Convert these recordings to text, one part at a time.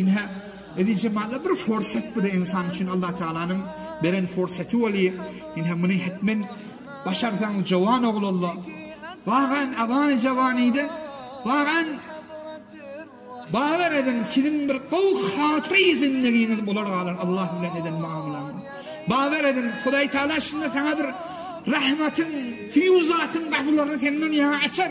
Ine, eziz jemala bir forsat bu-da ynsan üçin Allah Tagalanyň beren forsaty weli, ine muny hetmen başarsaň jowan oglalla, wagan awany jawanyda, wagan bawer ediň siziň bir gowy hatyra-i zindigiňiz bolar galar Allah bilen eden muamalaňyz. Bawer ediň Hudaý Tagala şunda saňa bir rahmatyň, fiýuzatyň gapylaryny senden ýaňa açar.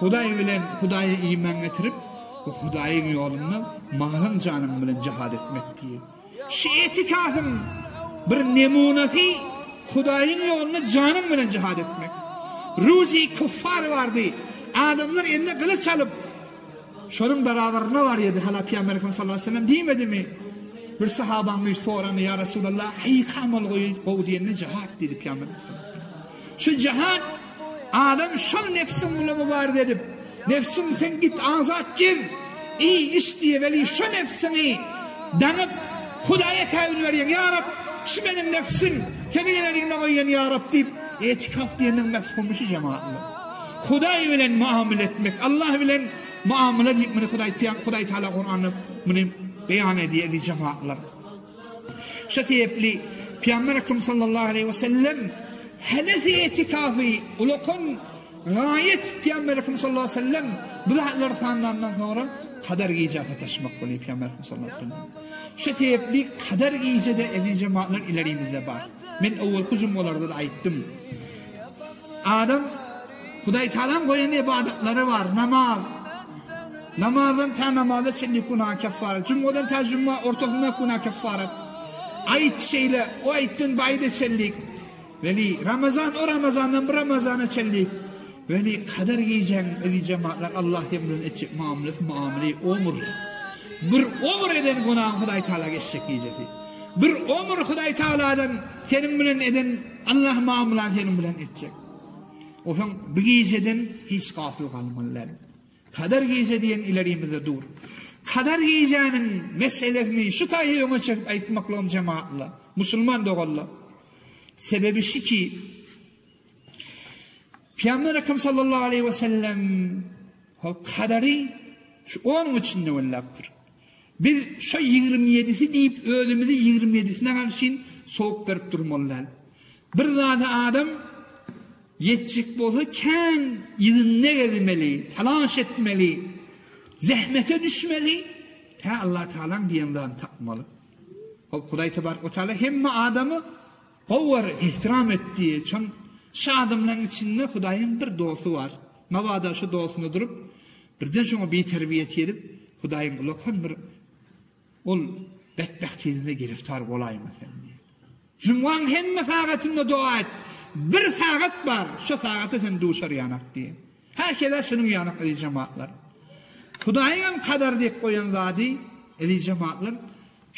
Hudaý bilen Hudaýa iman getirip we Hudaýyň ýolunda malyň janyň bilen jihad etmek diýil. Şu etikasyň bir nemunasy Hudaýyň ýolunda janyň bilen jihad etmek. Ruzi kuffar bardy. Adamlar eline gylyç alyp şonuň barabaryna barýardy. Hala Pyýamberimiz sallallahu aleyhi ve sellem diýmedimi? Bir sahabaň bir sorany, ýa Resulallah, heý kamal gowy diýende jihad diýdi Pyýamberimiz sallallahu aleyhi ve sellem. Şu jahan adam şol nefsiň bilen mübarize edip, Nefsim sen git azat gez, iý, iç diýýär, weli şo nefsiňi daňyp, Hudaýa käbir berýäň, Ýa Rab, şu meniň nefsim, seniň eleriňde goýýan Ýa Rab diýip, etikaf diýeniň mefhumy şu jemaatlar. Hudaý bilen muamele etmek, Allah bilen muamele diýip muny Hudaý Pyýam, Hudaý Taala Kuranda muny beýan edýär eziz jemaatlar. Şu sebäpli Pygamber Ekrem sallallahu aleýhi we sellem Hanefi etikaty ulakan raýat Pygamber Ekrem sallallahu aleýhi we sellem bu zatlary sanlandan soňra Kadyr gije sataşmak bolýar Pygamber Ekrem sallallahu aleýhi we sellem. Şu sebäpli Kadyr gije-de eziz jematlar ilerimizde bar. Men owalky jumgalarda-da aýtdym. Adam Hudaýtagalan goýan ybadatlary bar, namaz. Namazdan tä namaza çenli günä keffaret. Jumgadan tä juma ortasyndaky günä keffaret. Aýyt şeýle, o aýytdan bu aýyda çenlik. Weli, Ramazan o Ramazandan bu Ramazana çenlik. Weli, Kadyr gijäniň yzy jematlar Allah sen bilen etjek mamlesi muamele omur. Bir omur eden günaň Hudaýtagala geçjek gijesi. Bir omur Hudaýtagaladan seniň bilen eden Allah mamylan seniň bilen etjek. Osaň bu gijeden hiç gafyl galmaly däl. Kader gije diýen ilerimizde dur. Kader gijäniň meselesini şu taýy öňe çekip aýtmaklygym jemaatla, musulman doganlar. Sebebi şu ki, Peygamber Ekrem sallallahu aleyhi ve sellem kaderi şu onun içinde öllaptır. Biz şo ýigrimi ýedisi diýip özümizi ýigrimi ýedisine garşyn sowuk berip durmaly däl. Bir zada adam ýetjek bolsa kän ýüzünde gezmeli, talaş etmeli, zähmete düşmeli, tä Allatagalaň diýen zadyny tapmaly. Hop Hudaý Tebarek we Teala hemme adamy Howar ihtiram etdi. Çyn Şu adamlaň içinde Hudaýyň bir dosty bar. Mabada şu dostuny durup, birden şoňa biterbiýet edip, Hudaýyň ulakan bir ol betbähtiňize giriftar bolaýma sen diýip. Jumgaň hemme sagatynda doga et. Bir sagat bar, şu sagata sen duşar ýanak diýip. Häkede şunuň ýaly eziz jemaatlar. Hudaýyňam kadar diýip goýan zady, eziz jemaatlar,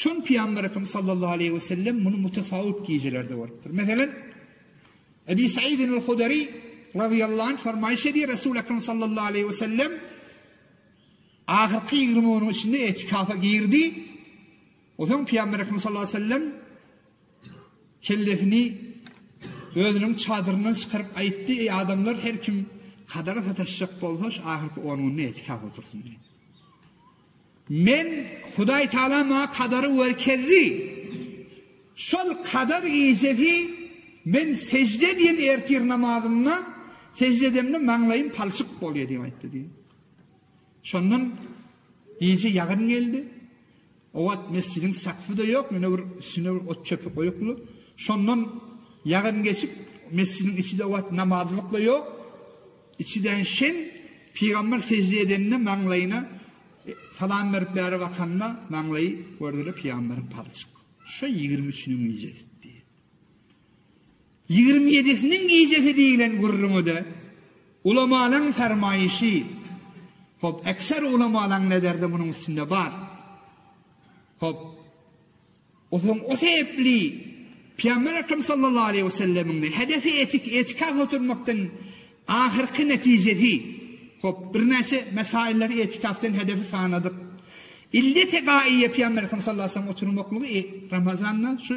çün Pyýamberekim sallallahu aleýhi we sellem muny mutasawwup gijelerde bolupdyr. Meselem, Ebi Saidinul Hudari razyýallahu anh fermaýyş edýär, Resul Ekrem sallallahu aleýhi we sellem ahyrky 20 günüň içinde etikafa girdi. Onsoň Pygamber Ekrem sallallahu aleýhi we sellem kellesini özüniň çadyryndan çykaryp aýtdy, Eý adamlar, her kim kadaga sataşjak bolsa, şu ahyrky on günde etikaf otursyn diýdi. Men Hudaý Taala maňa kadary görkezdi. Şol kadar gijesi men sejde edýän ertir namazynda sejde edemde maňlaýym palçyk bolýar diýip aýtdy diýdi. Şondan gije ýagyn geldi. O wagt mesjidiň sakfy-da ýok, ýöne bir üstüne bir ot-çöpi goýuply. Şondan ýagyn geçip, mesjidiň içi-de o wagt namazlyk-la ýok. Içi-dän şem, pygamber sežde edende maňlaýyna salam berip bäri bakanda, maňlaýy gördüler pygamberiň palçyk. Şo ýigrimi üçüniň gijesi. Ýigrimi ýedisiniň gijesi diýlen gürrüňi-de ulamalaň fermaýşy. Hop, ekser ulamalaň nezeri-de munuň üstünde bar. Hop, o soň o sebäpli Pygamber Ekrem sallallahu aleýhi we sellemiň-de hedefi etik, etika götermekden ahyrky netijesi. Hop, birnäçe mesaýyllary etikafdan hedefi sanadyk. Illeti gaýýa Pygamber Ekrem sallallahu aleýhi we sellem oturmaklygy Ramazanda şu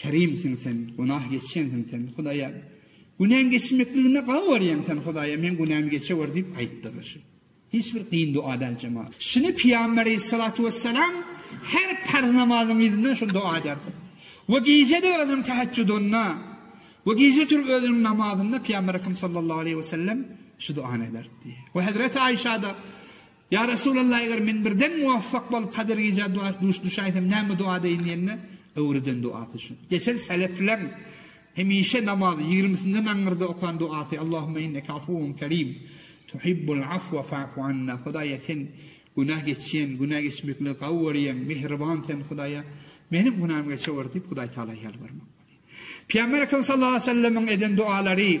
Kerimsiň Sen, günah geçýänsiň Sen, Hudaýa. Günäň geçmekligine gawy görýäň Sen, Hudaýa, meň günämi geçewür diýip aýtdylar. Şu hiç bir kyn doga däl jemagat. Şuny Pygamber aleyhissalatu vesselam her parz namazyň yzyndan şu doga ederdi. Ve gije-de özüniň teheccudyna ve gije turup özüniň namazynda Pygamber Ekrem sallallahu aleyhi ve sellem şu dogany ederdi. Ve Hazreti Ayşa da Ýa Resulallah, eger men birden muwafak bolup Kadyr gijä duş düşäýsem näme doga edeýin diýende, öwreden dogasy şu. Geçen selefleň hemişe namazy ýigrimisinden aňyrda okan dogasy, Allahumma inneke afuwun kerim, tuhibbul afwa fa'fu anna, Hudaýa sen günä geçýän, günä geçmekligi gawy görýäň, mähriban sen Hudaýa meniň günämi geçewür diýip Hudaýtagala ýalbarmak. Pygamber Ekrem sallallahu aleyhi ve sellemiň eden dogalary,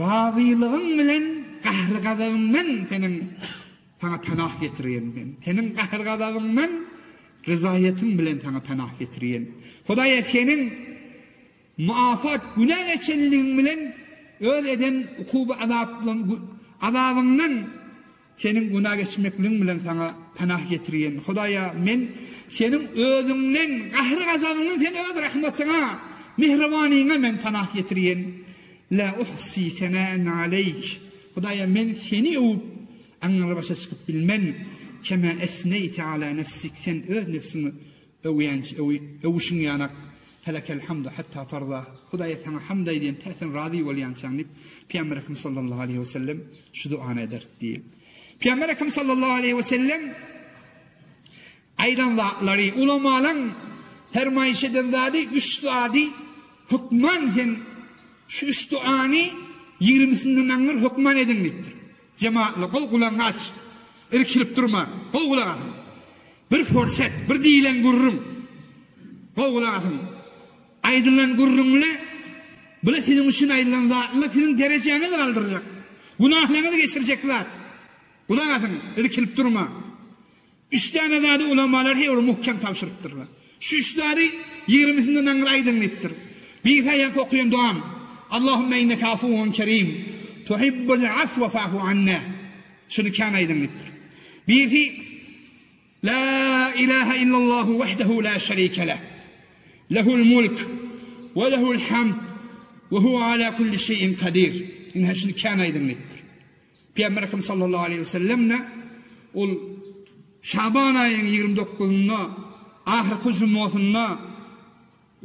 Razylygyň bilen gahry-gazabymdan Seniň Saňa penah getirýän men. Seniň gahry-gazabymdan ryzaýetym bilen Saňa penah getirýän. Hudaýa Seniň muafat günä geçenligiň bilen öz eden ukuby-azabyňdan Seniň günä geçmekligiň bilen saňa panah getirýän Hudaýa men Seniň özüňden, gahry-gazabyňdan, Sen öz rahmatyňa, mähribanyňa men panah getirýän. Lä uhsi senän aleýk. Hudaýa men Seni öwüp, aňňyrybaşa çykyp bilmen. Kemä esneýte alä nefsik. Sen öz nebsiňi Öwýänç, öwi, öwüşiň ýanak, Felekel hamdu hatta tarda, Hudaýa saňa hamd aýdýan, tä sen razy bolýançaň diýip, Pygamber Ekrem sallallahu aleýhi we sellem şu duany ederdi. Pygamber Ekrem sallallahu aleýhi we sellem aýdan zatlary, ulamalaryň fermaýyş eden zady, üç zady hökman sen şu üç duany ýigrimisinde naňňyr hökman ediň diýipdir. Jemaatly gowy gulagyňy aç. Irkilip durma. Gowy gulak asyň. Bir forsat, bir diýilen gürrüň. Gowy gulak asyň. Aýdylan gürrüňle bile siziň üçin aýdylan zatla siziň derejäňizi galdyrjak. Günahlaňyzy geçirjek zat. Gulak asyň, irkilip durma. Üç däne zady ulamalar her bir möhkem tabşyrypdyrlar. Şu üç zady ýigrimisinden aňyr aýdyň diýipdir. Birisi aýanky okaýan dogaň, Allahumma inneke afuwun kerim, tuhibbul afwa fa'fu anna. Şuny kän aýdyň diýipdir. Birisi La ilahe illallahu wahdehu la şerike leh. Lehul mulk we lehul hamd we huwa ala kulli şeýin kadir. Ine şuny kän aýdyň diýipdir. Pygamberimiz sallallahu aleýhi we sellem-de ol Şaban aýynyň ýigrimi dokuzynda ahyrky jummasynda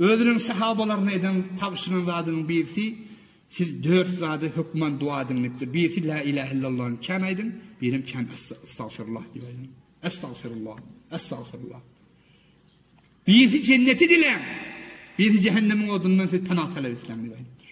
özüniň sahabalaryna eden tabşyran zadynyň birisi, Siz dört zada hökman doga ediň diýipdir. Birisi La ilahe illallah kän aýdyň, birem kän estagfirullah diýip aýdyň. Estagfirullah, estagfirullah. Birisi jenneti diläň, birisi jehennemiň odundan siz pena talap etseň diýip aýdypdyr.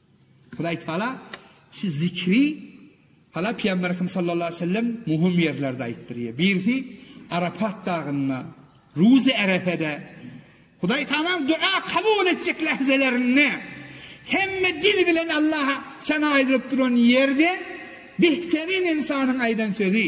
Hudaý Taala şu zikri Hala Pygamberimiz sallallahu aleyhi ve sellem muhim ýerlerde aýtdyrýar. Birisi Arafat dagynda, Ruzi Arafada Hudaý Taala dua kabul etjek lahzalarynda hemme dil bilen Allaha sena aýdylyp duran ýerde behterin insanyň aýdan sözi.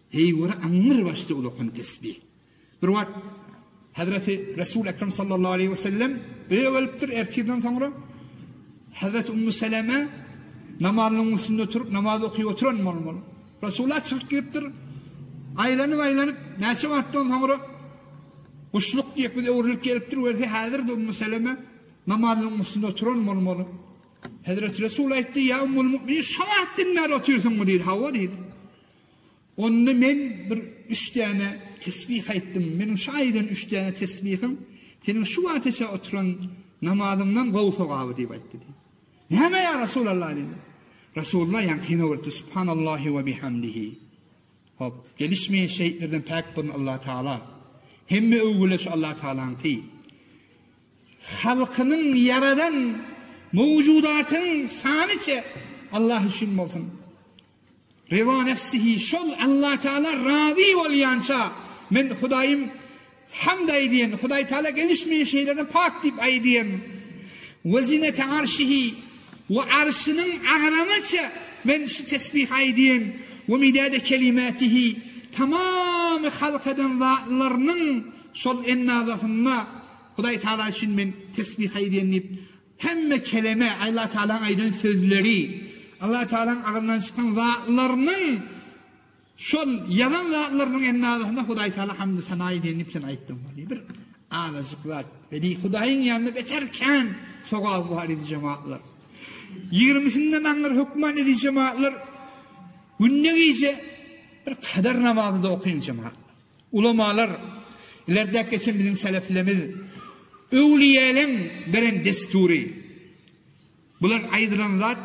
Heý göre aňňyr başly ulakan tesbih. Bir wagt Hazreti Resul Ekrem sallallahu aleyhi ve sellem öýe gelipdir ertirden soňra Hazreti Ummu Seleme namazynyň üstünde turup namaz okyp oturan bolmaly. Resulullah çykyp giripdir. Aýlanyp aýlanyp näçe wagtdan soňra Guşluk diýip biz öwrülip gelipdir görse häzir de Ummu Seleme namazynyň üstünde oturan bolmaly. Hazreti Resul aýtdy: "Ya Ummul Müminin, şu wagtdan bäri otyrsyňmy?" diýdi. Hawa diýdi. Onda men bir üç däne tesbih aýtdym. Meniň şu aýdan üç däne tesbihiň seniň şu wagtaça oturan namazyňdan gowy sogaby diýip aýtdy diýdi. Näme ýa Resulallah diýdi. Resulullah ýankyna öwrüpdi. Subhanallahi we bihamdihi. Hop, gelişmeýän şeýtlerden päk bolsun Allah Taala. Hemme öwgüler şu Allah Taalanyňky. Halkynyň ýaradan mowjudatyň sanyça Allah üçin bolsun. Reda nefsihi, şol Allatagala razy bolýança, men Hudaýym hamd aýdýan, Hudaý Tagala gelişmeýän şeýlere pak diýip aýdýan. We zinete arşihi, we arşynyň agramaça men şu tesbihi aýdýan. We midade kelimatihi, tamamy halk eden zatlarynyň şol ennazasynda Hudaý Tagala üçin men tesbih aýdýan diýip, Hemme keleme, Alla Tagalaň aýdan sözleri, Alla Tagalaň agzyndan çykan zatlarynyň, şol ýazan zatlarynyň hem arasynda Hudaý Tagala hamdy sana edýän diýip sen aýtdyň bolýar. Bir azajyk zat. Bedeý Hudaýyň ýanynda beter kän sogaby bar idi jemagatlar. Ýigrimisinden aňyr hökman edij jemagatlar günde gije bir kader namazy-da okyň jemagatlar. Ulamalar, ileride geçen biziň seleflerimiz öwlüýäleň beren dessury. Bular aýdylan zat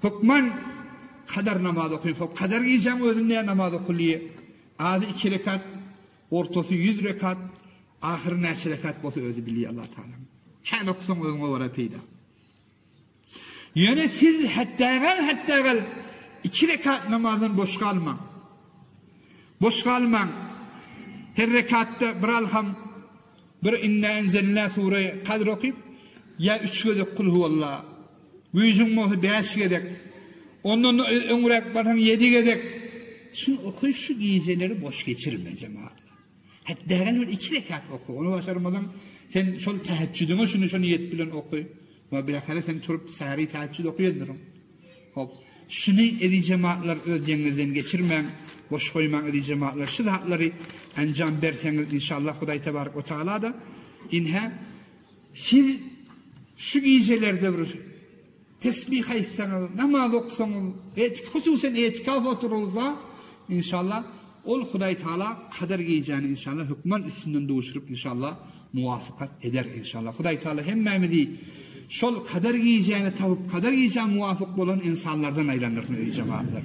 hökman kadar namaz okyň. Hop kadar gijäň özünde namaz okyly. Azy iki rekat, ortasy ýüz rekat, ahyry näçe rekat bolsa özi bilýär Allah taala. Kän oksaň özüňe görä peýda. Ýöne siz hetdägal-hetdägal iki rekat namazdan boş galmaň. Boş galmaň. Her rekatda bir alham, bir inna enzelna sure kadr okyp, ýa üç gezek kul huwalla, güýjüň bolsa bäş gezek, ondan öňräk barsaň ýedi gezek, şuny oky, şu gijeleri boş geçirme, jemagat. Hat dägel bir iki rekat oka ony başarmasaň sen şol tähejjüdiňe şuny şu niýet bilen oka we bilähire sen turup säri tähejjüd okaýandyryň. Hop. Şuny eziz jematlar öz deňňizden geçirmäň, boş goýmaň eziz jematlar şu zatlary enjam berseňiz inşallah Hudaý tebarak we tagala-da inhä siz şu gijelerde bir Tesbih aýtsaňyz, namaz oksaňyz, etik, hususan etikaf oturylysa, inşallah, ol Hudaý Tagala Kadyr gijäni inşallah hökman üstünden duşuryp inşallah muwafykat eder inşallah. Hudaý Tagala hemmämizi şol Kadyr gijäni tapyp, Kadyr gijä muwafyk bolan ynsanlardan aýlandyrsyn eziz jemagatlar.